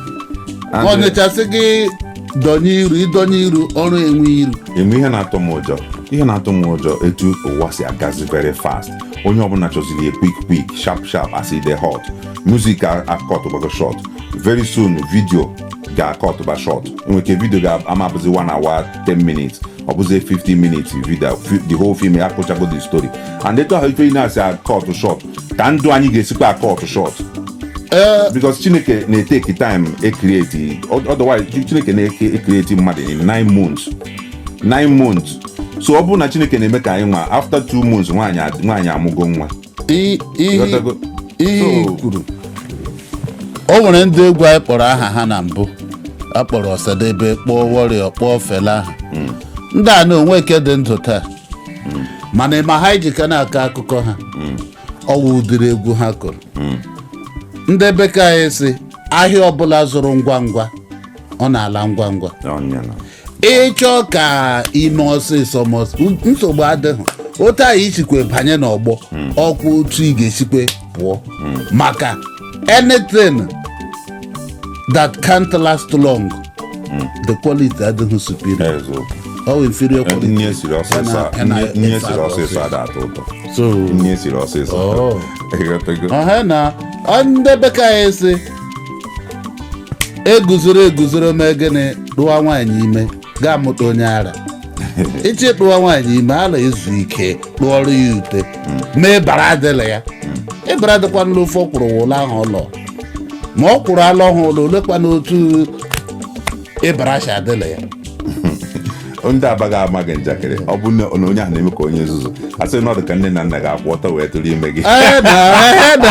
And, eh, o nechasị gị dọnye iru ịdọnye iru ọrụ enwe iru eme ihe na-atụ m ụjọ ihe na-atụ m ụjọ etu ụwa si agazi very fast onye ọbụla chọziri ya quick quick sharp sharp as e dey hot music akọt gbago short very soon video ga-akọt ba short nwere ike video ga-ama abụzi 1 hour 10 minutes ọ bụzi 15 minutes video the whole film ya akọchago the story and etu ahụ ife na-esi akọt short ka ndụ anyị ga-esikwa akọt short eh. because chineke na-eteki time ekreti otherwise chineke na-ekreti mmadụ in 9 months 9 months so ọ bụrụ na chineke na-eme ka anyị nwa after 2 months nwaanyị amụgo nwa I- ihe Ghọtago? ihe i So- kwuru o nwere ndị egwu anyị kpọrọ aha ha na mbụ a kpọrọ osadebe kpọọ warrior kpọọ fela aha ndị a na o nwe nke dị ndụ taa mana ị ma ihe e ji ka na-akọ akụkọ ha ọ wụ ụdịrị egwu ha kụrụ ndị be nke anyị sị ahịa ọbụla zụrụ ngwa ngwa ọ na-ala ngwa ngwa Ọnya na- ị chọọ ka i mee ọsịsọ ma ọs- nsogbu adịghị otu a i sikwe banye n'ọgbọ ọ kwa otu ị ga-esikwe pụọ maka anything that can't last long the quality adịghị superior Eziokwu. ọ wụ inferior quality nni e siri ọsịsọ Ya na- ya na- nni e siri ọsịsọ ada atọ ụtọ so nni e siri ọsịsọ Oh. Ịghọtago? ọha na ọ ndị be nke anyị sị eguzoro eguzoro mee gịnị tụwa nwaanyị ime ga-amụta onye ara ị chọ ịtụwa nwaanyị ime ala ezu ike tụọrọ ya ute mee bara adịla ya ịbara dịkwa nlu ofe ọ kwụrụ ụlọ ahụ ụlọ ma ọ kwụrụ ala ọhụụ ụlọ olekwa n'otu ịbara asha adịla ya ndị aba ga-ama gị njakịrị ọ bụ na na onye ahụ na-eme ka onye nzuzu a sị na ọ dị ka nne na nna gị akwụ ọtọ wee tụrụ ime gị Ee, na, ee, na,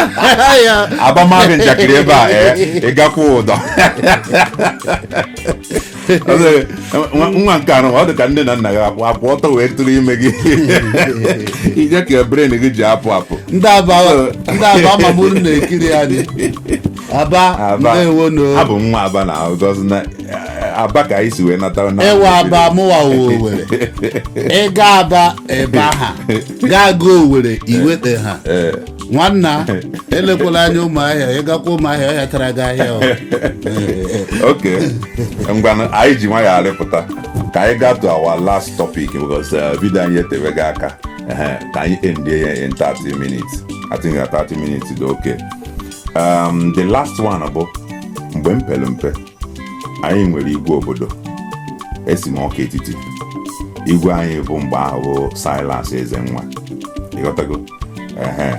ee, ya. aba maa gị njakịrị ebe a ee ị ga-akwụ ụdọ Ọ sịrị, "Nwa- nwa nke a nụ ọ dị ka nne na nna gị akwụ akwụ ọtọ wee tụrụ ime gị ije ka brain gị ji apụ apụ ndị aba ndị aba amamuru na-ekiri anyị aba Aba. ndewo nụ abụ m nwa aba na because na eh, aba ka anyị si wee nata na ịwa aba mụwa owere ị gaa aba ebe ha ga-aga owere iweta ha Eh, nwanna elekwala anya ụmụahịa ị gakwa ụmụahịa ọhịa tara gị ahịa o. ok ngwanụ anyị ji nwayọ arịpụta ka anyị gaa to our last topic because eh, video anyị etebega aka Ehe, ka anyị endie ya in 30 minutes i think na 30 minutes dị okay um, the last one bụ mgbe m pere mpe anyị nwere igwe obodo esi m ọka etiti igwe anyị bụ mgbe ahụ bụ silas ezenwa ịghọtago ehe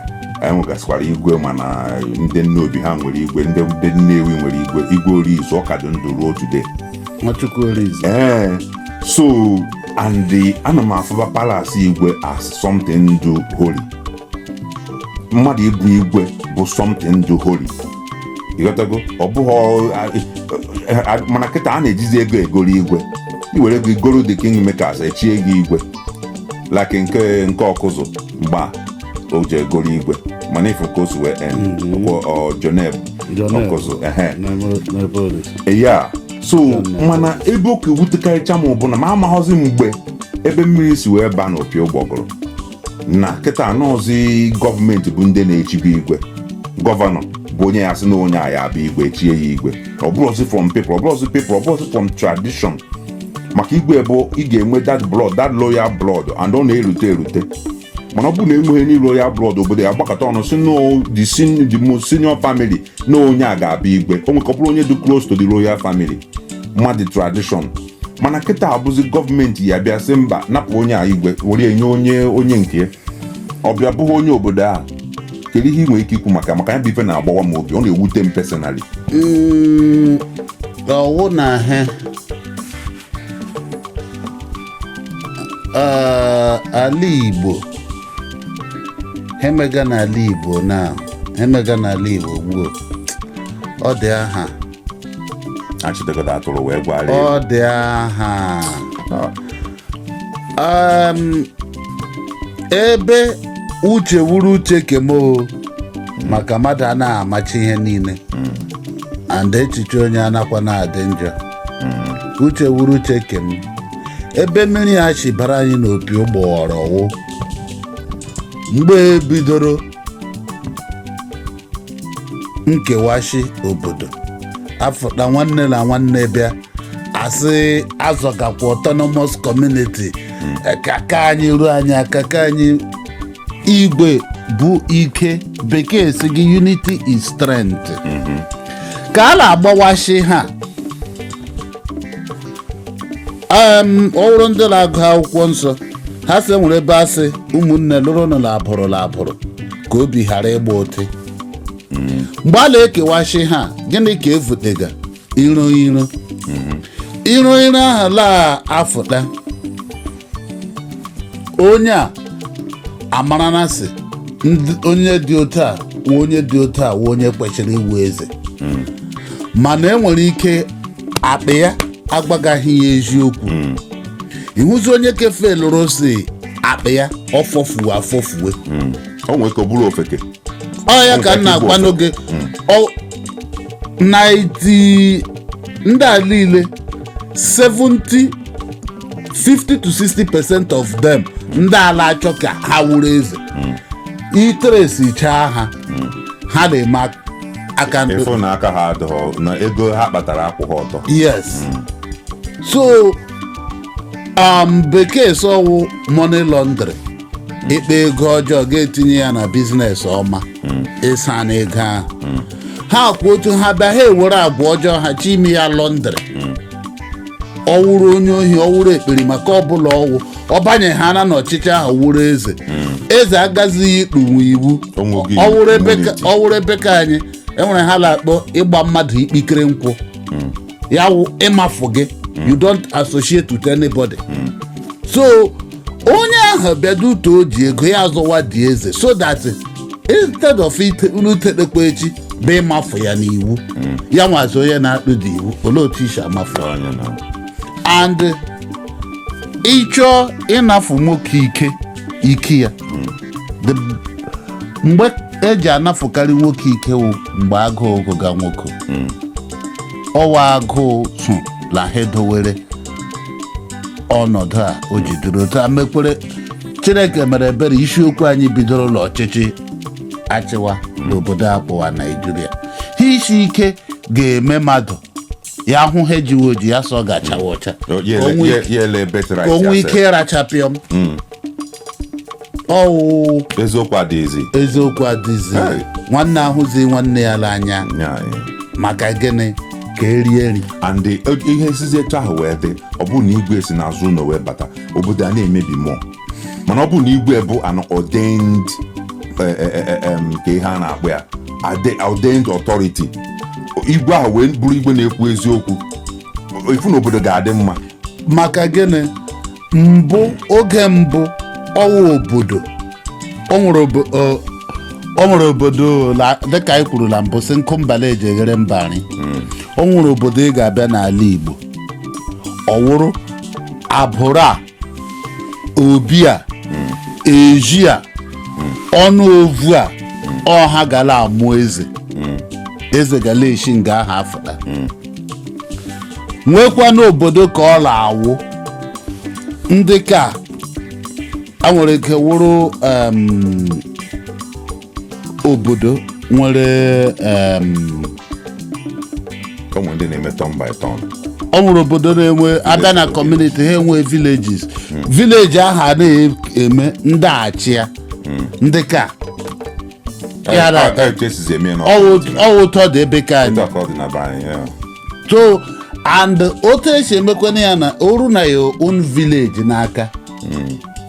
anyị nwegasịkwara igwe mana ndị nnobi ha nwere igwe ndị ndị nnewi nwere igwe igwe orizu ọ ka dị ndụ ruo today nwachukwu orizu ee so and the ana m afụba palace igwe as something dị holy mmadụ ịbụ igwe bụ something dị holy ị ghọtago ọ bụghị mana kịta a na-ejizi ego egoro igwe i were ego i goro the king makers echie gị igwe like nke nke ọkụzụ mgbe a o ji egoro igwe mana ị fụ ka o si wee end ọ kwa joneb ọkụzụ ehe ya so mana ebe ọ ka wutekarịcha m bụ na m amaghọzi mgbe ebe mmiri si wee baa n'opi ụgbọgụrụ na kịta a nọzi gọọmenti bụ ndị na-echibu igwe gọvanọ bụ onye ya-asị na onye a ya-abụ igwe e chie ya igwe ọ bụrọzi from people ọ bụrọzi people ọ bụrọzi from tradition maka igwe bụ ị ga-enwe that blood that royal blood and ọ na-erute erute mana ọ bụrụ na enweghị ndị royal blood obodo ya-agbakọta ọnụ sị no the sen- the most senior family na onye a ga-abụ igwe o nwekọ bụrụ onye dị close to the royal family ma the tradition mana kịta a bụzi gọọmenti ya-abịa sị mba napụ onye a igwe were enye onye onye nke ya. ọ bịa bụghị onye obodo ahụ kedu ihe i nwere ike ikwu maka maka ya bụ ife na-agbawa m obi ọ na-ewute m personally Mm, ọ wụ na ihe Ah, ala igbo emega n'ala igbo na emega n'ala igbo gboo ọ dị aha achịtekọta atụrụ wee gwara ya ọ dị aha Em, ebe uche wuru uche ke m o maka mmadụ anaghị amachi ihe niile and echiche onye anakwa na-adị njọ uche wuru uche ke m ebe mmiri a shi bara anyị n'opi ụgbọghọrọ wụ mgbe e bidoro nkewashi obodo afụta nwanne na nwanne bịa asị azọgakwa autonomous community Eh, ka ka anyị ruo anyị aka ka anyị igwe bụ ike bekee sị gị unity is strength ka a na-agbawashi ha um, ọ bụrụ ndị na-agụ akwụkwọ nsọ ha sị nwere ebe a sị ụmụnne lụrụ nụ na abụrụ na abụrụ ka obi ghara ịgba ụtị mgbe a na-ekewashi ha gịnị ka evutega iro iro iro iro ahụ la-afụta onye a amara na sị ndị- onye dị otu a wụ onye dị otu a wụ onye kwesịrị ịwụ eze mana e nwere ike akpị ya agwagaghị ya eziokwu ịhụzi onye kefe lụrụ si akpị ya ọfọfuwe afọfuwe o nwere ka ọ bụrụ ofeke ọ ya ka m na-agwa n'oge ọ- 90 ndị a niile 70 50 to 60 percent of them ndị a la-achọ ka ha wụrụ eze ị trace chaa ha ha na-eme ak- aka mkpụrụ ị fụ na aka ha adịghị na ego ha kpatara akwụghị ọtọ yes so um, bekee sị ọ wụ money laundry ịkpa ego ọjọọ ga-etinye ya na business ọma ịsa na ego ahụ ha kwụ otu ha bịa ha ewere agwa ọjọọ ha chi ime ya laundry ọ wụrụ onye ohi ọ wụrụ ekperima ka ọbụla ọ wụ ọ banyehana n'ọchịchị ahụ wụrụ eze eze agazighị ikpunwu iwu O nweghị ọ wụrụ ebe ka- immunity. ọ wụrụ ebe ka anyị e nwere ihe a na-akpọ ịgba mmadụ ikpikere nkwụ ya wụ ịmafụ gị you don't associate with anybody so onye ahụ bịaduto o ji ego ya azọwa the eze so that instead of ite- unu tetekwa echi bịa ịmafụ ya n'iwu ya wụzi onye na-akpụ the iwu olee otu i si amafụ ya? Onye na- and ị chọọ ịnafụ nwoke ike ike ya The- mgbe e ji anafụkarị nwoke ike wụ mgbe agụụ gụga nwoke ọ wụ agụụ so na ha edowere ọnọdụ a o jidere otu a mekwere Chineke mere ebere isiokwu anyị bidoro n'ọchịchị a chịwa n'obodo a kpọwa Naijiria ihe isi ike ga-eme mmadụ ya hụ ihe ejiwe oji ya sị ọ ga-achawa ọcha onwe ike- ya ele betrit ka o nwe ike ịracha pịọm ọ wụ eziokwu adịghịzi eziokwu adịzi Hey. nwanne ahụzi nwanne ya n'anya Nye anyị. maka gịnị ka e rie nri and the- ihe sizi etu ahụ wee dị ọ bụrụ na igwe si n'azụ ụlọ wee bata obodo a na-emebi mmụọ mana ọ bụrụ na igwe bụ an ordained eh, eh, eh, eh, em, kee ihe a na-akpọ ya ade- ordained authority igwe ahụ wee bụrụ igwe na-ekwu eziokwu ị fụ na obodo ga-adị mma maka gịnị mbụ oge mbụ ọ wụ obodo o nwere obo- ọ- o nwere obodo la- dịka anyị kwuru na mbụ sị nkụ mba la-eji eghere mba nri o nwere obodo ị ga-abịa n'ala Igbo ọ wụrụ agbụrụ a obi a ezi a ọnụ ovu a ọ ha gala amụ eze eze gala eshi nga ahụ afụta nwekwa n'obodo ka ọ na-awụ ndị ka a nwere ike wụrụ em, obodo nwere o nwere ndị na-eme turn by turn o nwere obodo na-enwe a bịa na kọmuniti ha enwe villages vileji ahụ a na-eme ndị a chịa ndị ka ya na-aga ọ wụ otu ọ dị ebe ke anyị so and otu e si emekwana ya na o ruo na your own village n'aka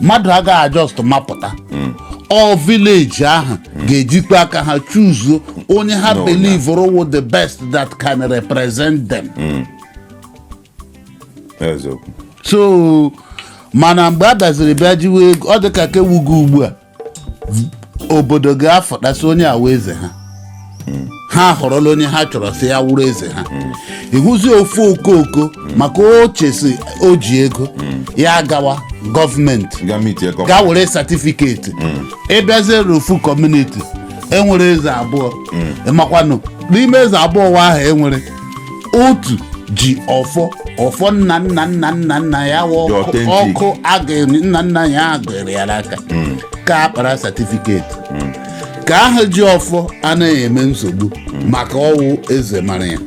mmadụ agaghị just mapụta all vileji ahụ ga-ejikwa aka ha chuzuo onye ha No, believuru wụ the best that can represent them eziokwu so mana mgbe a bịaziri bịa jiwe ego ọ dị ka ka ewugo ugbu a obodo ga-afọtasị onye awa eze ha ha họrọla onye ha chọrọ sị ya wụrụ eze ha ị hụzi ofu okooko maka o che sị o ji ego ya gawa gọọmenti ga meet ya gaa were satifiketi ị bịazie ruo ofu kọmuniti e nwere eze abụọ ị makwanụ n'ime eze abụọ wa ahụ e nwere otu ji ọfọ ọfọ nna nna nna nna nna ya wụ The ọkụ authentic. ọkụ a ga- nna nna ya a gụrụ ya n'aka ke a kpara satifiketi ke ahụ ji ọfọ anaghị eme nsogbu maka ọ wụ eze mara ya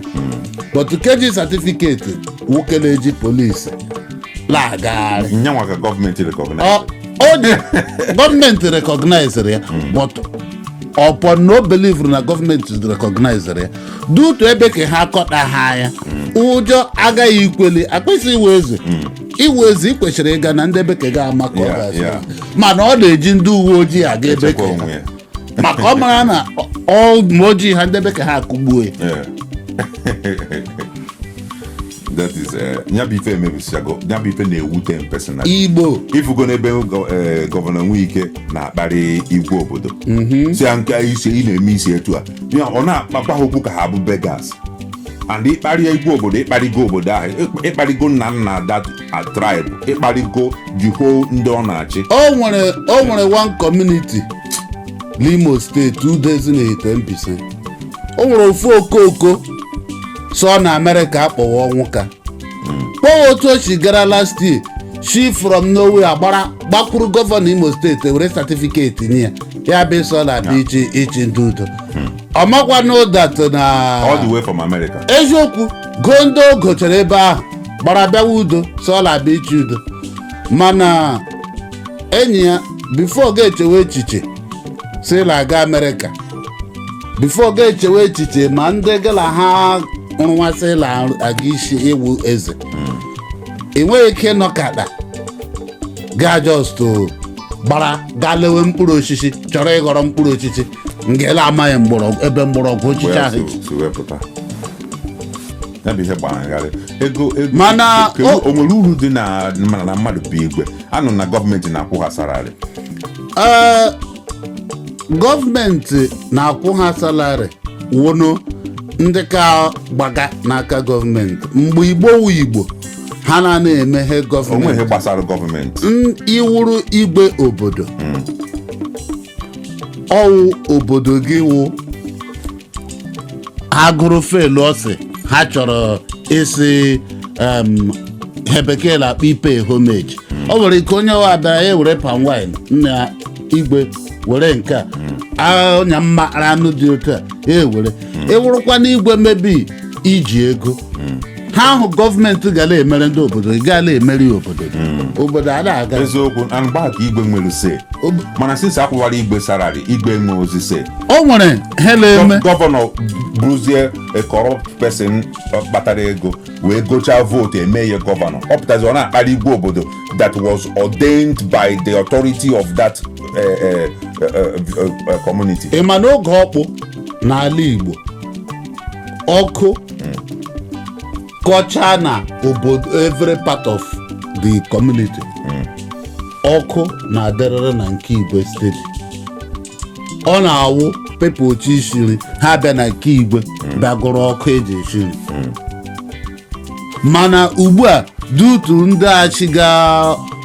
but ke ji satifiketi wụ ke na-eji polisi la-agagharị ya nwa ka gọọmenti rekọgnaiz Ọ- ọ dị gọọmenti rekọgnaiziri ya but upon na o belivuru na gọọmenti rekọgnaiziri ya dị otu ebe ke ha akọta ha anya ụjọ agaghị ikweli ị kwesị ị wụ eze ị wụ eze ị kwesịrị ịga na ndị ebe ke gị amakụọ Yeah, gị asị yeah. mana ọ na-eji ndị uwe ojii aga ebe Chekwa ke onwe ya. maka ọ mara na ma o jighị ha ndị ebe ke ha akụgbuo ya Yeah. that is eh, ya bụ ife e mebisichago ya bụ ife na-ewute m personal igbo ị fugo n'ebe gọ- eh, gọvanọ Nwike na-akparị igwe obodo sị ya nke isi ị na-eme isi etu a Ya, ọ na-akpakwa ha okwu ka ha bụ beggars and ị kparịa igwe obodo ị kparịgo obodo ahụ ịk- ị kparịgo nna nna that tribe ị kparịgo the whole ndị ọ na-achị o nwere o nwere one community n'imo steeti udo ezinihitte mbaise o nwere ofu okooko sọ na amerịka akpọwa ọnwụka kpọwa otu o si gara last year si from nowhere agbara gbakwuru gọvanọ imo steeti were satifiketi nye ya ya bụ sị ọ na-abịa ịchị ịchị ndị udo ọ makwa na that na all the way from america eziokwu goo ndị o gochara ebe ahụ gbara bịawa udo sị ọ la-abịa ịchị udo mana enyi ya bifo ọ ga-echewe echiche si na aga amerịka before gị echewe echiche ma ndị gị na ha rụwasị la ga-asị ị wụ eze ị nweghị ike ịnọkata gaa just gbara gaa lewe mkpụrụ osisi chọrọ ịghọrọ mkpụrụ osisi nke ị la-amaghị mgbọrọgwụ ebe mgbọrọgwụ osisi wee ahụ so- so wee pụta ya bụ ihe gbagharị ego ego Mana kedu- o- o nwere uru dị na mana na mmadụ bụ igwe anụ na gọọmenti na-akwụ ha salary Ee, gọọmenti na-akwụ ha salary wụnụ ndị ka gbaga n'aka gọọmenti mgbe igbo wụ igbo ha na na-emeghe o nweghị gọọmenti gbasara gọọmenti n- ị wụrụ igwe obodo ọ wụ obodo gị wụ ha gụrụ felu ọ sị ha chọrọ ịsị em, ihe bekee na-akpọ ịpay homage ọ nwere ike onye ọ wụ abịara ya were palm wine nna igwe were nke a Ah, ọnya m mara anụ dị otu a ya ewere ị wụrụkwa n'igwe maybe i ji ego ihe ahụ gọọmenti gara emere ndị obodo ị ga la-emere ya obodo gị obodo a na-aga eziokwu na mgbe ahụ ka igwe nwere say Ob- mana since a kwụwara igwe salary igwe nweozi say o nwere ihe a na-eme Gọ- gọvanọ bụrụzie a corrupt person ọ kpatara ego wee gochaa vote eme ya gọvanọ ọ pụtazi ọ na-akparị igwe obodo that was ordained by the authority of that eh, eh, eh, eh, eh, community ị ma na oge ọkpụ n'ala igbo ọkụ kọchaa na obodo every part of the community ọkụ na-adịrịrị na nke igwe steady ọ na-awụ people chọ ishi nri ha bịa na nke igwe bịa gụrụ ọkụ e ji eshi nri mana ugbu a due to ndị achị ga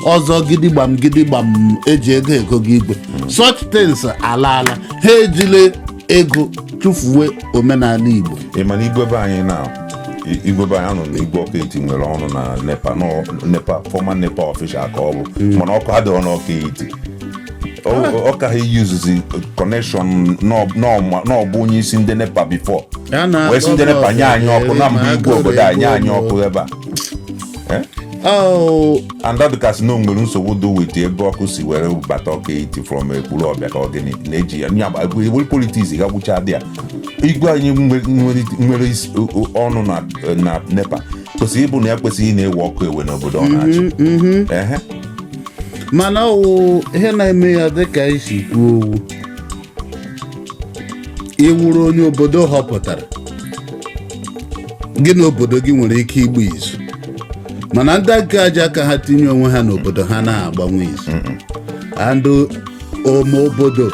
ọzọ gidigbam gidigbam eji ego ego gị igwe such things alaala ha ejile ego tụfuwe omenala igbo ị ma na igwe be anyị na i- igwe be anyị anụnwa igwe ọka etiti nwere ọnụ na nepa nọ- nepa former nepa official ka ọ bụ mana ọkụ adịghị n'ọka etiti ọ ka ha yuzuzi connection na ọ bụ onye isi ndị nepa before wee si ndị nepa nye anyị ọkụ na m bụ igwe obodo a nye anyị ọkụ ebe a and ọ dịka a sị na e nwere nsogbu dị with ebe ọkụ si were bata ọka etiti from ekwulọbịa ka ọ gịnị na-eji ya ewere politics ga gwụcha dị ya igwe anyị nwere ọnụ na nepa kwesịrị ịbụ na ya kwesịrị ị na-ewe ọkụ ewe n'obodo ọ na-achị Ehe. mana ọ wụ ihe na-eme ya dịka i si kwuo ọ wụ ị wụrụ onye obodo họpụtara gị na obodo gị nwere ike ịgba izu mana ndị aka aja aka ha tinye onwe ha n'obodo ha anaghị agbanwu izu and ome obodo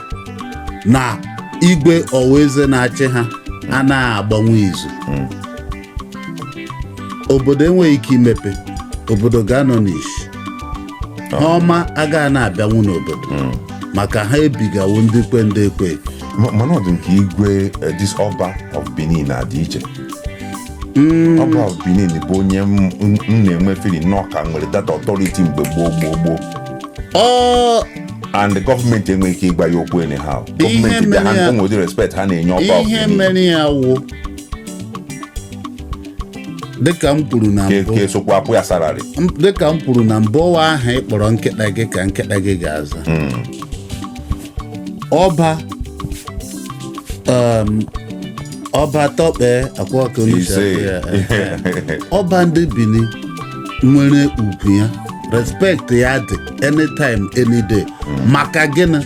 na igwe ọwa eze na-achị ha anaghị agbanwu izu obodo enweghị ike imepe obodo ga-anọ n'isi ihe ọma agaghị na-abịanwu n'obodo maka ha ebigawo ndị kwe ndị ekwe Ma- mana ọ dị nke igwe eh, this ọba of benin na-adị iche ọba of benin bụ onye m m- m na-enwe feeling na ọ ka nwere that authority mgbe gboo gboo gboo ọ and the gọọmenti enweghị ike ịgwa ya okwu anyhow Ihe gọọmenti be ha mere ya- enwe ụdị respect ha na-enye ọba of ihe benin mere ya wụ dịka m kwuru na Ke- mbụ ka e sokwa akwụ ya salari M- dịka m kwuru na mbụ ọ wụ aha ị kpọrọ nkịta gị ka nkịta gị ga-aza ọba um, ọba tọkpe akwa ka onye si ise akpọ ya, eh, ọba ndị bini nwere ugwu ya respect ya dị anytime any day maka gịnị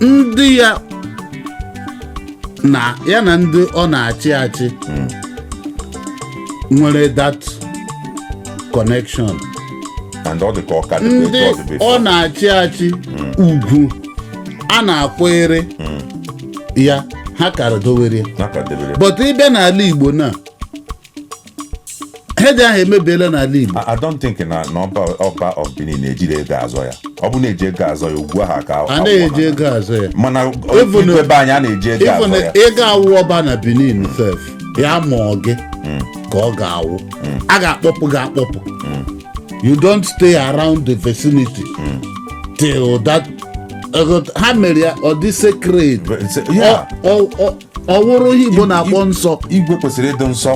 ndị ya na ya na ndị ọ na-achị achị nwere that connection and ọ dị ka ọ ka dị ndị etu ọ dị ọ na-achị achị ugwu a na-akwanyere ya ha kara dowere ya na ka debere but ị bịa n'ala igbo na ihe ndị ahụ emebiela n'ala Igbo I don't think na na ọba ọba of Benin na-ejiri ego azọ ya ọ bụ na e ji ego azọ ya ugwu ahụ ka anaghị eji ego azọ ya mana Even- igwe be anyị a na-eji ego ịbụ azọ na ya ị ga-awụ ọba na Benin sef ya mụọ gị ka ọ ga-awụ a ga-akpọpụ gị akpọpụ you don't stay around the vicinity till that ego- ha mere ya ọ dị sacred It's- yeah. Ọ- ọ- ọ- ọ wụrụ ihe igbo na-akpọ nsọ igwe kwesịrị ịdị nsọ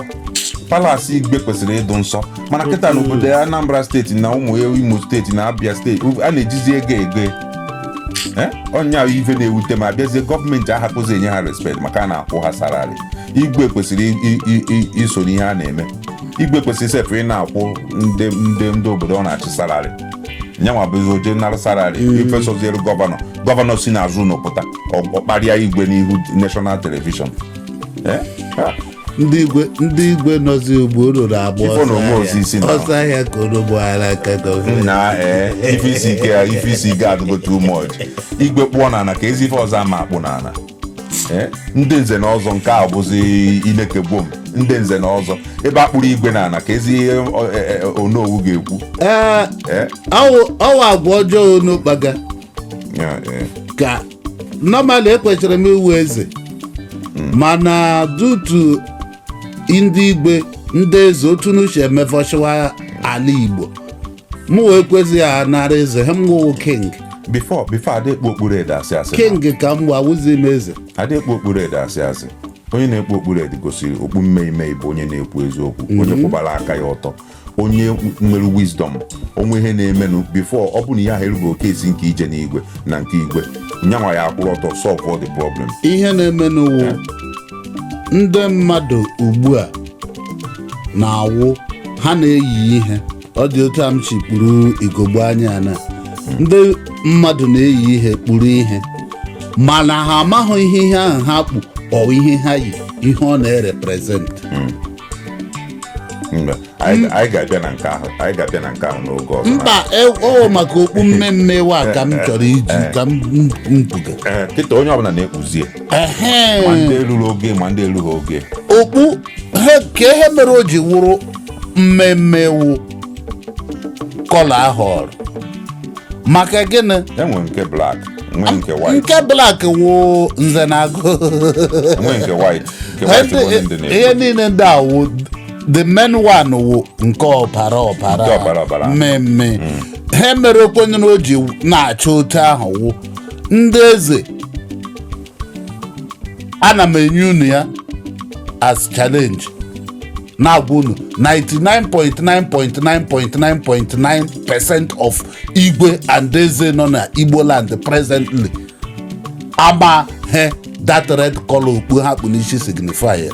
palasi igwe kwesịrị ịdị nsọ mana kịta n'obodo ya anambra steeti na ụmụ ya imo steeti na abia steeti a na-ejizi ego ego Eh? ọ nya bụ ife na-ewute m abịazie gọọmenti ahapụzi inye ha respekt maka a na-akwụ ha salari igwe kwesịrị i- i- i- iso n'ihe a na-eme igwe kwesịrị sef ị na-akwụ ndị ndị ndị obodo ọ na-achị salari nya nwa bụzi o je nara salari ife soziri gọvanọ gọvanọ si n'azụ ụlọ pụta ọ kparịa igwe n'ihu national television Eh? Ah, ndị igwe ndị igwe nọzi ugbu unu na-agba Ifo na ọsọ onwe ozi isi ahịa. na- ọsọ ahịa ka unu gbaara aka gọvanọ nna ee ife isi ike ya ife isi ike adịgo too much igwe kpụọ n'ala ka ezi ife ọzọ ama akpụ n'ala Eh, ndị nze na ọzọ nke a bụzi ineke gbom ndị nze na ọzọ ebe a kpụrụ igwe n'ala ka ezi ihe ọ- e- e- onowu ga-ekwu ee Eh? ọwụ ọwụ agwa ọjọọ unu kpaga Ya, eh. ka normally ekwesịrị m ịwụ eze mana due to ndị igwe ndị eze otu unu shi emefọchiwa ala igbo mụ wee kwezi ya nara eze ha mụ wụ king before before ada ekpu okpu red asị asị king ka m awụzi m eze ada ekpu okpu red asị asị onye na-ekpu okpu red gosiri okpu mmemme bụ onye na-ekwu eziokwu onye kwụbara aka ya ọtọ onye nwere wisdom o nwee ihe na-emenụ before ọ bụ na ihe ahụ erubeghị oke ezi nke ije n'igwe na nke igwe nyanwa ya akwụrụ ọtọ solve all the problem ihe na-emenụ wụ ndị mmadụ ugbu a na-awụ ha na-eyi ihe ọ dị otu a m si kpuru igogbo anya na ndị mmadụ na-eyi ihe kpuru ihe mana ha amaghị ihe ihe ahụ ha kpu or ihe ha yi ihe ọ na-ereprezentị Mba, anyị anyị ga-abịa na nke ahụ anyị ga-abịa na nke ahụ n'oge ọzọ mba e- ọ maka okpu mmemme wa ka m chọrọ iji ka m mpuga Ee, kịta onye ọbụla na-ekpuzie ehe ma ndị ruru ogo ma ndị erughị ogo okpu he ka ihe mere o ji wụrụ mmemme wụ color a họrọ maka gịnị e nwere nke black e nwee nke white nke black wụ nze na agụ e nwee nke white nke white bụ onye ndị na-ekwu ihe niile ndị a wụ the main one wụ nke ọbara ọbara Nke ọbara ọbara. mmemme ihe mere okwenye na o ji na-acha otu ahụ wụ ndị eze ana m enye unu ya as challenge na-agwa unu 99.9.9.9.9 percent of igwe and eze nọ na igbo land presently amaghị ihe that red color okpu ha kpu n'isi signify ya